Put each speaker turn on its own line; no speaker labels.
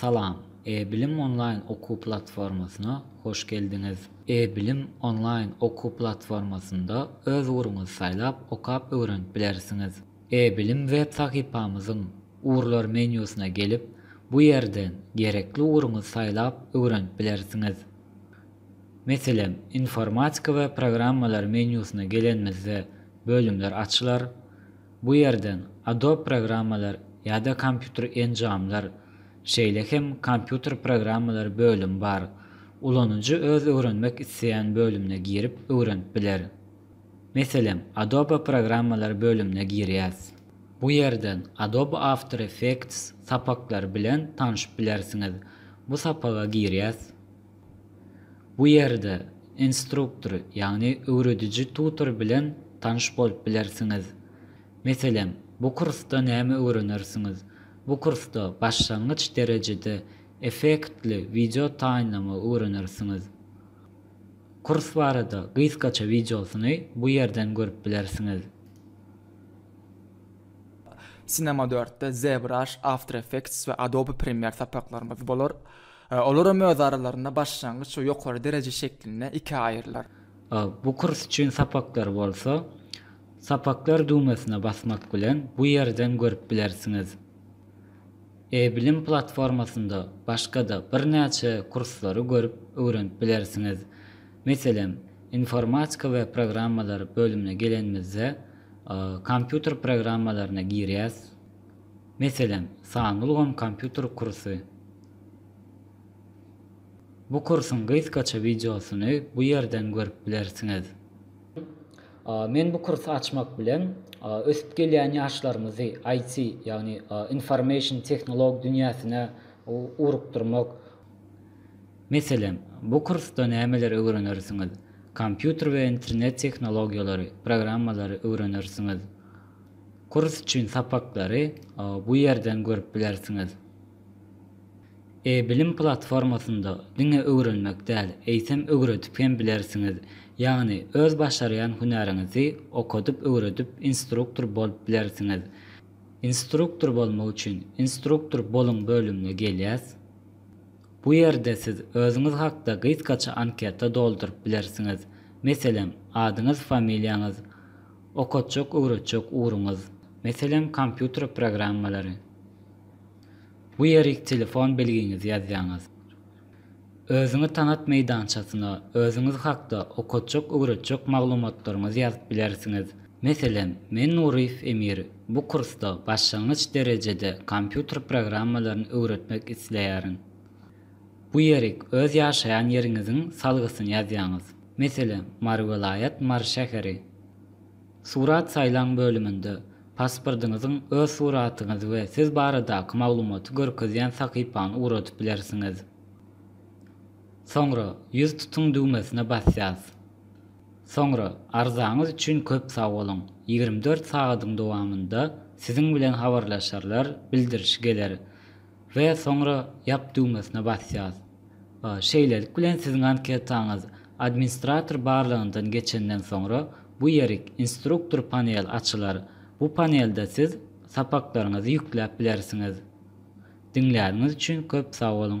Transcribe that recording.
Salam! E-bilim onlaýn okuw platformasyna hoş geldiňiz! E-bilim onlaýn okuw platformasynda öz ugruňyzy saýlap, okap öwrenip bilersiňiz. E-bilim web sahypamyzyň Ugurlar menýusyna gelip, bu ýerden gerekli ugruňyzy saýlap öwrenip bilersiňiz. Meselem, Informatika we programmalar menýusyna gelenimizde bölümler açylar. Bu ýerden Adobe programmalar ýa-da kompýuter enjamlar, şeýle hem kompýuter programmalary bölümi bar. Ulanyjy öz öwrenmek isleýän bölümine girip öwrenip biler. Meselem, Adobe programmalary bölümine girýäs. Bu ýerden Adobe After Effects sapaklary bilen tanşyp bilersiňiz. Bu sapaga girýäs. Bu ýerde instruktor, ýagny öwrediji tutor bilen tanyş bolup bilersiňiz. Meselem, bu kursda näme öwrenersiňiz? Bu kursda başlangyç derejede effektli wideo taýynlamagy öwrenersiňiz. Kurs barada gysgaça wideosyny bu ýerden görüp bilersiňiz.
Cinema dörtde, ZBrush, After Effects we Adobe Premiere sapaklarymyz bolar. Olar hem öz aralarynda başlangyç we ýokary dereje şeklinde ikä aýrylar. Bu kurs
üçin sapaklar bolsa, Sapaklar düwmesine basmak bilen bu ýerden görüp bilersiňiz. E-bilim platformasynda başga-da birnäçe kurslary görüp öwrenip bilersiňiz. Meselem, Informatika we programmalar bölümine gelenimizde, Kompýuter programmalaryna girýäs. Meselem, sanly ulgam kompýuter kursy. Bu kursuň gysgaça wideosyny bu ýerden görüp bilersiňiz. Men bu kursy açmak bilen, ösüp gelýän ýaşlarymyzy IT, ýagny information tehnolog dünýäsine ugrukdyrmak. Meselem, bu kursda nämeleri öwrenersiňiz? Kompýuter we internet tehnologiýalary, programmalary öwrenersiňiz. Kurs üçin sapaklary bu ýerden görüp bilersiňiz. E-bilim platformasynda diňe öwrenmek däl, eýsem öwredip hem bilersiňiz. Ýagny öz başarýan hünäriňizi okadyp öwredip instruktor bolup bilersiňiz. Instruktor bolmak üçin Instruktor boluň bölümine gelýäs. Bu ýerde siz özüňiz hakda gysgaça anketa dolduryp bilersiňiz. Meselem, adyňyz, familiýaňyz, Okatjak-öwretjek ugruňyz, meselem, kompýuter programmalary. Bu ýerik telefon belgiňizi ýazýaňyz. Özüňi tanat meýdançasyna özüňiz hakda okatjak-öwretjek maglumatlaryňyzy ýazyp bilersiňiz. Meselem, men Nuryýew Emir, bu kursda başlangyç derejede kompýuter programmalaryny öwretmek isleýärin. Bu ýerik öz ýaşaýan ýeriňiziň salgysyny ýazýaňyz. Meselem, Mary welaýat, Mary şäheri. Surat saýlaň bölüminde pasportyňyzyň öz suratyňyzy we siz baradaky maglumaty görkezýän sahypany ugradyp bilersiňiz. Soňra Ýüz tutuň düwmesine basýas. Soňra Arzaňyz üçin köp sag boluň. Ýigrimi dört sagadyň dowamynda siziň bilen habarlaşarlar, bildirişi geler. We soňra Ýap düwmesine basýas. Şeýlelik bilen siziň anketaňyz administrator barlagyndan geçenden soňra bu ýerik Instruktor panel açylar. Bu panelde siz sapaklaryňyzy ýükläp bilersiňiz. Diňläniňiz üçin köp sag boluň!